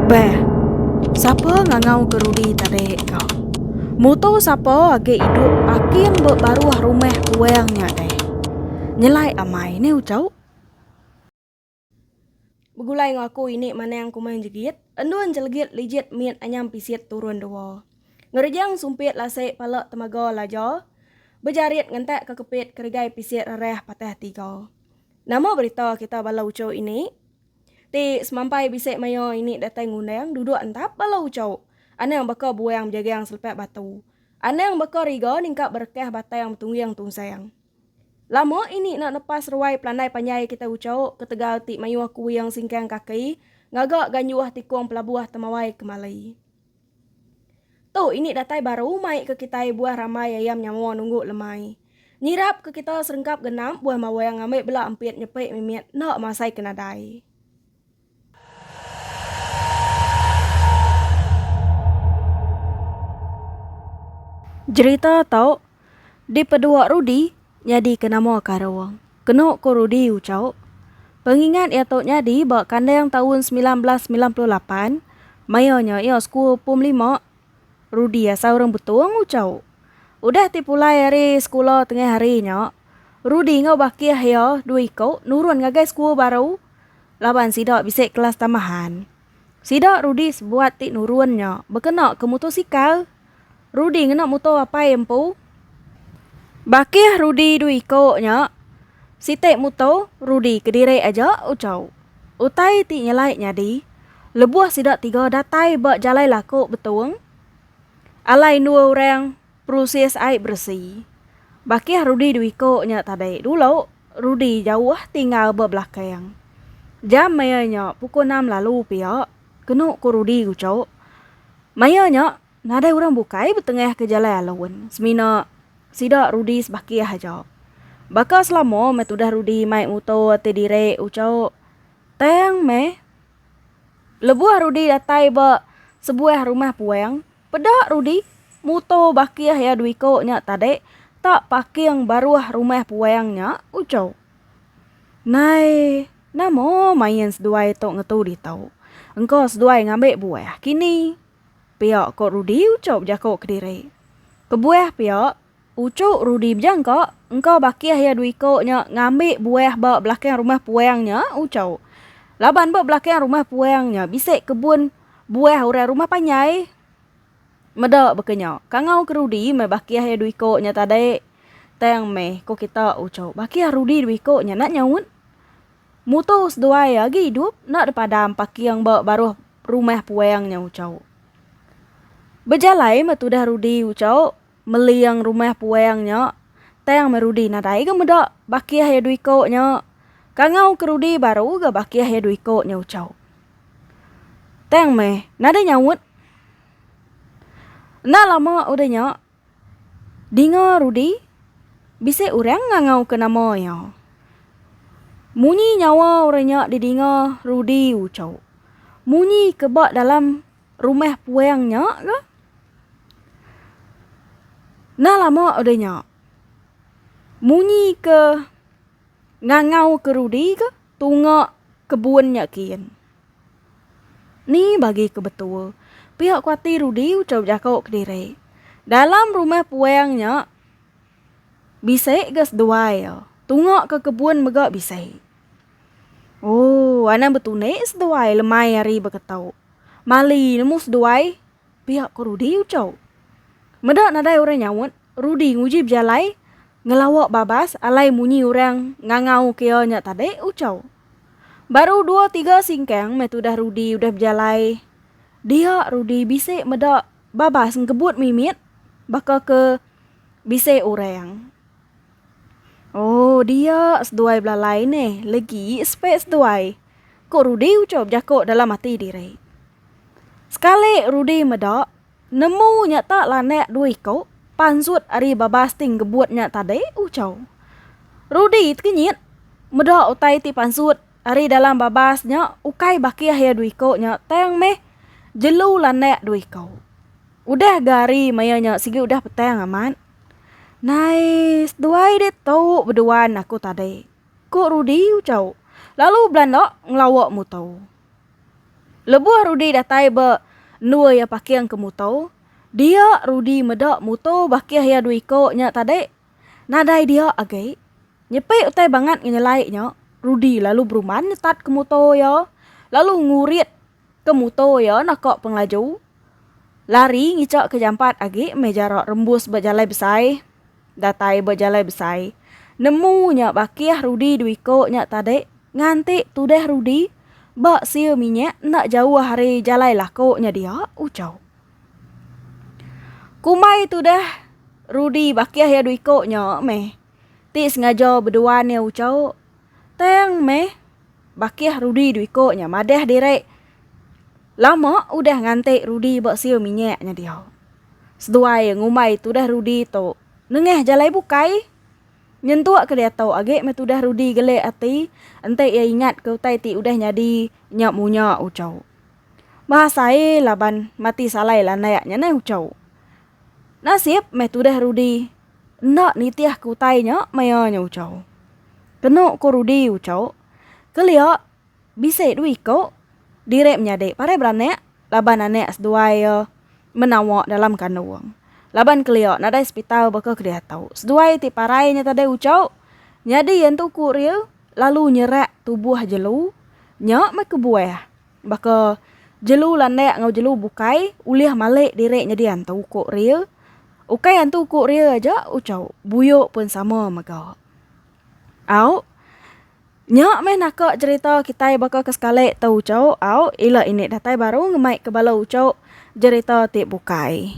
Beh. Sapa ngangau ke Rudi tadi ka. Mutu sapa agi idup paking ba baruh rumah kuang nya deh. Nyelai amai ni ucau. Begulai enggau aku ini manang kumang jegit, endun jelegit lijit mit anyam pisit turun dua. Ngerejang sumpit lasik pala temaga laja, bejarit ngentak ke kepit keregai pisit rerah patah tiga. Nama berita kita bala ucu ini? Ti semampai bisi maya ini datai ngundang duduk entap bala uchauk. Anang baka buang bejagang selepak batu. Anang baka riga ningkap berekah batang betungging tunsang. Lama ini enda nepas ruai pelandai panjai kitai uchauk ketegal ti mayuh kuing singkang kaki ngaga ganjuh tikung pelabuh temawai kemali. Tu ini datai baru mai ke kitai buah rambai ayam nyawa nunggu lemai. Nyirap ke kita serengkap genap buah mawang ambi bela empit nyepi mimit enda masai ke nadai. Jerita tu dipedua Rudi Nyadi ke nama kara wong. Kenu ku Rudi Uchau, pengingat iya tu nyadi ba kandang taun semilan belas semilan puluh lapan, maya nya iya sekul pum lima. Rudi asal orang Betong, Uchau. Udah ti pulai ari sekula tengah hari nya, Rudi enggau bakih iya dua iku nurun ngagai sekul baru laban sida bisi kelas tambahan. Sida Rudi sebuat ti nurun nya bekena ke mutosikal. Rudi ngena muto apai empu. Bakih Rudi dua iko nya, siti muto Rudi kediri aja Uchau. Utai ti nyelai nyadi, lebuh sida tiga datai ba jalai laku Betong, alai endur orang perusis ai beresi, bakih Rudi dua iko nya tadi dulu Rudi jauh tinggal ba belakang. Jam maya nya pukul enam lalu pia, kenu ku Rudi uchu. Maya nya, nadai orang bukai betengahka jalai alun semina sida Rudi sebakih aja. Baka selama meh tudah Rudi mai mutor ti diri uchu. Tang meh, lebuh Rudi datai ba sebuah rumah puang, Peda Rudi, mutor bakih iya dua iko nya tadi tak paking baruh rumah puang nya, ucau. Nai, nama main seduai tu ngetu ditu? Engka seduai ngambi buah kini. Pia ko Rudi ucau bejako kediri. Kebuah pia, Uchu Rudi bejang ka, engka bakih iya dua iko nya ngambi buah ba belakang rumah puang nya, uchu. Laban ba belakang rumah puang nya bisi kebun buah orang rumah panjai. Meda baka nya, kangau ke Rudi meh bakih iya dua iko nya tadi. Tang meh ko kita, uchu. Bakih Rudi dua iko nya enda nyaut. Muto seduai iya agi idup, enda ada padam paking ba baruh rumah puang nya, uchu. Bejalai meh tudah Rudi, uchu. Meling rumah puang nya, tang meh Rudi nadai ga meda bakih iya dua iko nya. Kangau ke Rudi baru ga bakih iya dua iko nya uchau. Tang meh nadai nyaut. Enda lama udah nya, dinga Rudi bisi orang ngangau ke nama iya. Munyi nyawa orang nya didinga Rudi uchau. Munyi ke ba dalam. rumah puang nya ke. Nah lama udah nya. Munyi ke ngangau ke Rudi ke tunga kebun nya kin. Ni bagi ke betul. Pia ku ati Rudi ucau jako kediri. Dalam rumah puang nya. Bisi ga seduai iya. Tunga ke kebun mega bisi. Oh, anang betunik seduai lemai hari beketu. Mali nemu seduai, pia ko Rudi uco. Meda nadai orang nyaut, Rudi nguji bejalai ngelawa babas alai munyi orang ngangau ke iya nya tadi uco. Baru dua tiga singkang meh tudah Rudi udah bejalai. Dia Rudi bisi meda babas ngebut mimit baka ke Bisi orang. Oh, dia seduai belalai ne, legi sepek seduai, ku Rudi ucau bejako dalam ati diri. Sekali Rudi meda nemu nya tak lanak dua iko pansut ari babas ti ngebut nya tadi, ucau. Rudi tekenyit meda utai ti pansut ari dalam babas nya ukai bakih iya dua iko nya tang meh jelu lanak dua iko. Udah ga hari maya nya sigi udah petang amat. Nai, seduai deh tu beduan aku tadi. Ku Rudi ucau. Lalu belanda ngelawa muto. Lebuh Rudi datai ba endur iya paking ke muto, dia Rudi meda muto bakih iya dua iko nya tadi. Nadai dia agi, nyepi utai bangat ngenyelai nya, Rudi lalu beruman nyetat ke muto iya lalu ngurit ke muto iya naka pengelaju lari ngica ke jampat agi meh jarak rembus ba jalai besai. Datai ba jalai besai, nemu nya bakih Rudi dua iko nya tadi nganti tudah Rudi ba sil minyak enda jauh ari jalai lako nya dia, uchau. Kumbai tudah Rudi bakih iya dua iko nyo meh. Ti sengaja beduan iya ucau. Tang meh bakih Rudi dua iko nyo madah diri lama udah nganti Rudi ba siu minyak nya diau. Seduai iya ngumbai tudah Rudi tu nengah jalai bukai. Nyentuk ke diatu agi meh tudah Rudi gelik ati enti iya ingat ke utai ti udah nyadi nya munya ucau. Bahasa e laban mati salai landak nya neh ucau. Nasib meh tudah Rudi enda nitih ke utai nya maya nya ucau. Kenu ko Rudi ucau, kelia bisi dua iko diri menyadi parai beranak laban anak seduai iya menawa dalam kandung. Laban kelia nadai sepital baka ke diatu. Seduai ti parai nya tadi ucau nyadi iya ento ku ria lalu nyerak tubuh jelu nya meh kebuah. Baka jelu landak enggau jelu bukai ulih malik diri nyadi antu uku ria. Ukai antu uku ria aja ucau buyuk pun sama mega. Au. Nya meh naka jerita kitai baka ke sekali tu ucau au ila ini datai baru ngemaika bala ucau jerita ti bukai.